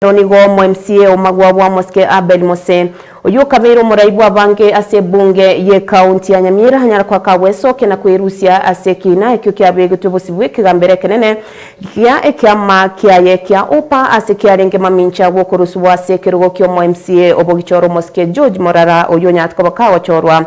Oro nigo omw'MCA omagwa bw'Amosike Abel Mose, oyio okabeire omorai bw'abange ase ebunge y'Ekaunti ya Nyamira, anyara koaka gwesokia na kwerusia ase ekiina ekio kiabegetwe bosibwa bw'ekegambero ekenene gia ekiama kiaye kia Upa ase kiarenge mamincha gw'okorusubwa ase ekerogo ki'omw'MCA obogichora omosike George Morara oyio onyarete koba kagochorwa.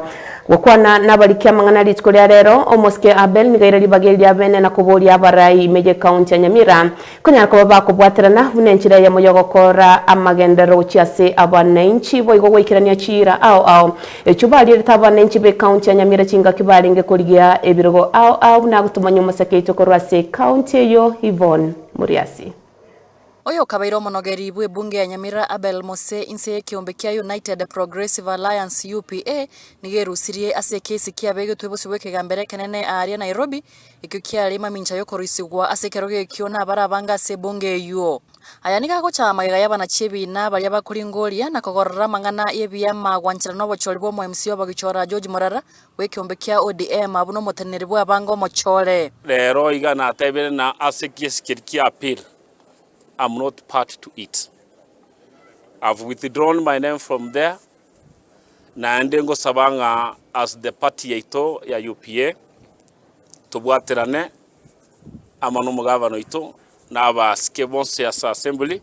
Gokwana nabariki amang'ana rituko ria rero, Omosike Abel niga aire ribaga eri ria bene na koboria abarai ime y'Ekaunti ya Nyamira, Konyara koba bakobwaterana buna enchera eyemo y'ogokoora amagenderero gochia ase abananchi, boigo goikerania chiira ao ao. Echio barierete abananchi b'Ekaunti ya Nyamira chingaki barenge korigia ebirogo ao ao buna agotomanya omoseke oito korwa ase Ekaunti eyio Yvonne Muriasi. Oyo okabaire omonogeri bwe bunge ya Nyamira Abel Mose inse y'ekeombe kia United Progressive Alliance, UPA, nigo erusirie ase ekesi kiabegetwe bosio bw'ekegambero ekenene aaria Nairobi Ekio kiarenge mamincha y'okoroisigwa ase ekerogo ekio nabare abange ase ebunge eyio. Aya nigo agochaya magega y'abana-chi'ebiina baria bakoringoria na kogorora amang'ana y'ebiama gwanchera n'obochori bw'omoemsi obogichora George Morara bw'ekeombe kia ODM abwo n'omoteneneri bw'abange omochore. Rero iga natebire na ase giesikeri kia appeal am not party to it. I've withdrawn my name from there Naende ngosaba ng'a as the party yaito ya UPA, tobwaterane amo nomogavana oito na abasike bonsi ase Assembly,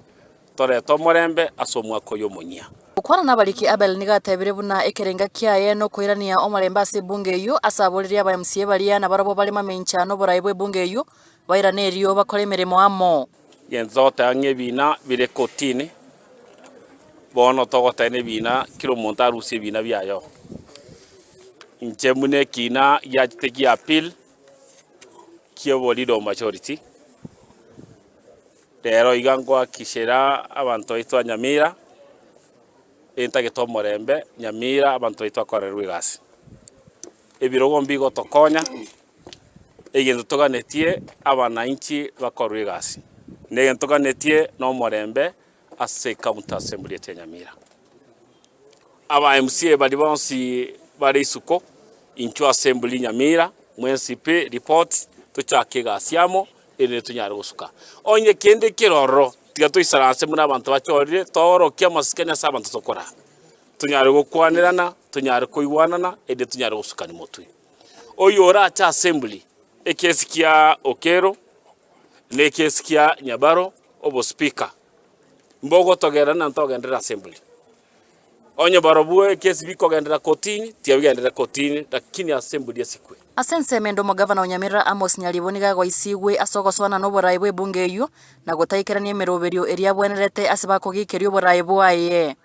torete omorembe ase omwaka oyo omonyia. Gokwana nabariki Abel nigo atebire buna ekerenga kiaye nokoirania omorembe ase ebunge eyio ase aboririe aba mca baria nabarobwo bare mamencha noborai bw'ebunge eyio bairane erio bakore emeremo amo. Gento togoteba ng'a ebina bire kotini, bono togoteba ng'a ebina kera omonto arusie ebina biaye. Inche buna ekina giachete gia appeal ki'oboriri o majority, rero iga ngoakikishera abanto baito ba Nyamira entagete omorembe Nyamira abanto baito bakorerwe egasi. Ebirogo mbigotokonya egento toganetie abanainchi bakorwe egasi, na egento toganetie nomorembe ase County Assembly ase Nyamira. Aba MCA baria bonsi bare isuko intwe Assembly Nyamira mwensi pi report tochake egasi amo erinde tonyare gosuka onye kende keroro tiga toisara ase buna abanto bachorire toorokie amasikani ase abanto tokorara tonyare gokwanerana tonyare koigwanana erinde tonyare gosukani motwe. Oyio ore ache asembli, ekiesi kia Okello na ekiesi kia Nyabaro obo speaker, mbogotogera na ntogenderere asembli. Onye barobwo ekiesi bikogenderera kotini, tiga bigenderere kotini, lakini asembli esikwe. Ase ensemo ende omogavana o Nyamira Amos Nyaribo nigo agoisigwe ase ogosoana noboraai bw'ebunge eyio, na gotaikerania emeroberio eria abwenerete ase bakogeikeria oboraai bwaye.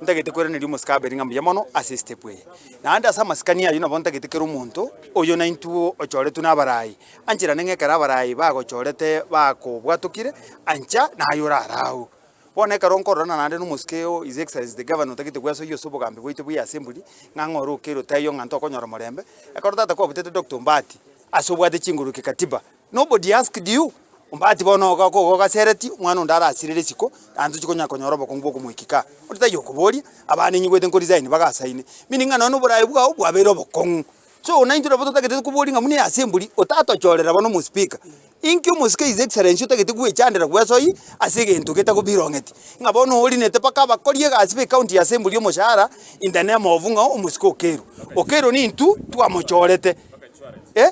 Ntagete kweraneria omosike abeire ng'a mbuya mono ase esitepu eye, naende ase amasikani ayio nabo ntagete kera omonto oyo naintwe ochoretwe n'abaraai, anche naende ng'a ekero abaraai bagochorete bakobwatokire, ancha naye orare agwo. Bono ekero nkororana naende n'omosike oo His Excellency the Governor otagete gwesoyia ase obogambi bwaito bwa Assembly, ng'a ng'a ore okeire otaiyo ng'a ntokonyora omorembe, ekero tata kwabutete Doctor Ombaati ase obwate chinguru ki katiba, Nobody asked you? Ombati bono oga ko ogogasereti, omwana onde arasire risiko, naende tochi konya konyora obokungu bw'okomoiki kaa. Ore taiyo okoboria, abana ninyigwete nkoresign bagasaine, meaning ng'a nonye na oborae bwao bwabeire obokong'u. So naintwe nabo totagete koboria ng'a buna eyase emburi, otatochorera bono omospika. Inki omosike his excellency otagete gwechandera gwesoi ase egento getagobirong'eti, ng'a bono orinete mpaka abakori egasi b'ecounty yase emburi omoshahara in the name of ng'a omosike okerwe. Okerwe nintwe twamochorete, eh.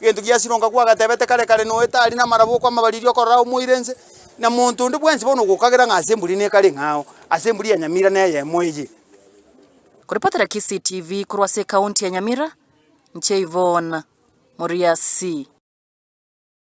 Gento giasirwa ngakwa agatebete kare kare noe tari namarabo okwamabariria okorora aye omoire nse, na monto onde bwensi bono ogokagera ng'a ase emburi nekare eng'ao, ase emburi ya Nyamira neyemo eye. Korepotera Kisii TV korwa ase ekaunti ya Nyamira, inche Yvonne Moriasi.